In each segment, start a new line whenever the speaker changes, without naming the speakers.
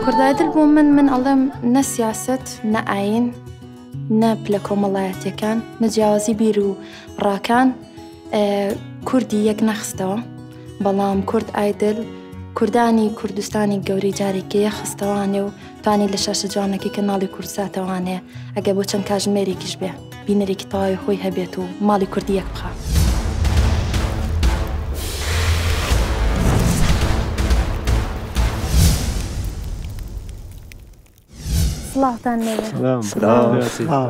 کوردایدل بۆ من من ئەڵێم نە سیاسەت نە ئاین نە پلە کۆمەڵایەتەکان نە جیاوازی بیر و ڕاکان کوردی یەک نەخستەوە بەڵام کورد ئایدل کوردانی کوردستانی گەوری جارێکی یەخستەوانێ و فانی لە شاشە جوانەکەی کەناڵی کوردساتە وانەیە ئەگەر بۆ چەند کاژمێرێکیش بێ بینەرێکی تەواوی خۆی هەبێت و ماڵی کوردی یەک بخا. سڵاوتان لێبێ. سڵاو. سڵاو.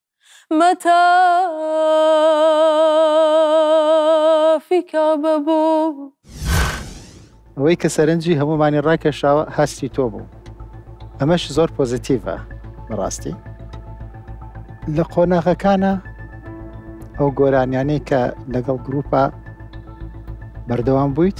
مەتافی کەعبە بوو. ئەوەی کە سەرنجی هەموومانی ڕاکێشاوە هەستی تۆ بوو ئەمەش زۆر پۆزیتیڤە بەڕاستی لە قۆناغەکانە ئەو گۆرانیانەی کە لەگەڵ گروپە بەردەوام بوویت.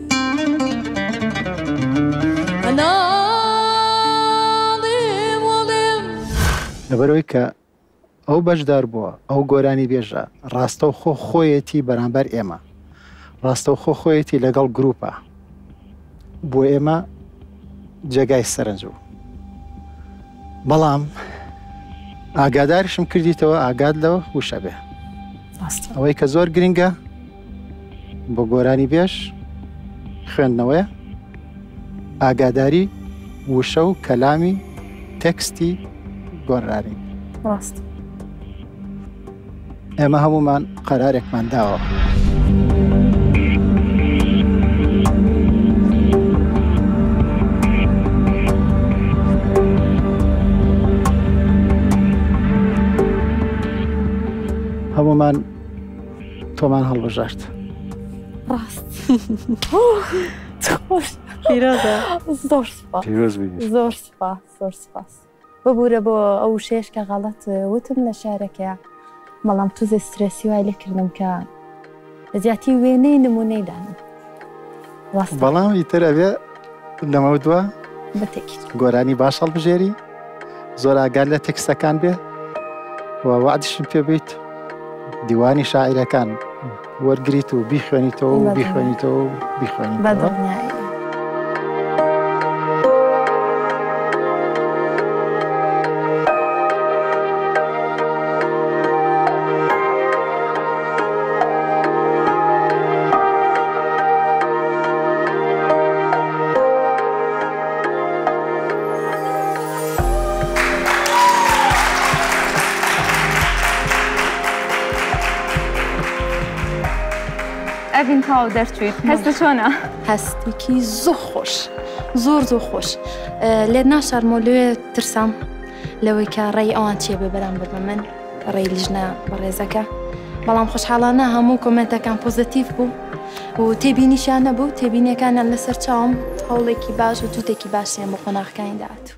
لەبەرئەوەی کە ئەو بەشداربووە ئەو گۆرانی بێژە ڕاستەوخۆ خۆیەتی بەرامبەر ئێمە ڕاستەوخۆ خۆیەتی لەگەڵ گروپە بۆ ئێمە جێگای سەرنج بوو بەڵام ئاگادارشم کردیتەوە ئاگاد لەوە وشە بێ ئەوەی کە زۆر گرنگە بۆ گۆرانی بێژ خوێندنەوەیە ئاگاداری وشە و کەلامی تەکستی گۆرانی ڕاست ئێمە هەمومان قەرارێکمان داوە. هەمومان تۆمان هەڵبژارد ڕاست زۆر زۆر سپاس ببوورە بۆ ئەو شێش کە غەڵەت وتم لە شارەکە بەڵام توزە سترێسی وای لێکردم کە زیاتی وێنەی نمونەی دانم بەڵام ئیتر ئەوێ لەمە دووە گۆرانی باش هەڵبژێری زۆر ئاگار لە تێکستەکان بێ و وعدشم پێ بیت دیوانی شاعیرەکان وەرگیت و بیخوێنیتەوە و بیخوێنیتەوە و بیخوێنی بەدڵنیایی ئەڤین تاو دەرچویت هەستە چۆنە هەستێکی زۆ خۆش زۆر زۆ خۆش لێت ناشارمۆ لێ ترسام لەوەی کە ڕێی ئەوان چێ بێ بەرامبەر بە من ڕێی لیژنە بەڕێزەکە بەڵام خۆشحاڵانە هەموو کۆمنتەکان پۆزتیف بوو و تێبینیشیان نەبوو تێبینیەکانیان لەسەر چاوم هەوڵێکی باش و توتێکی باشیان بۆ قۆناغەکانی داهاتوو.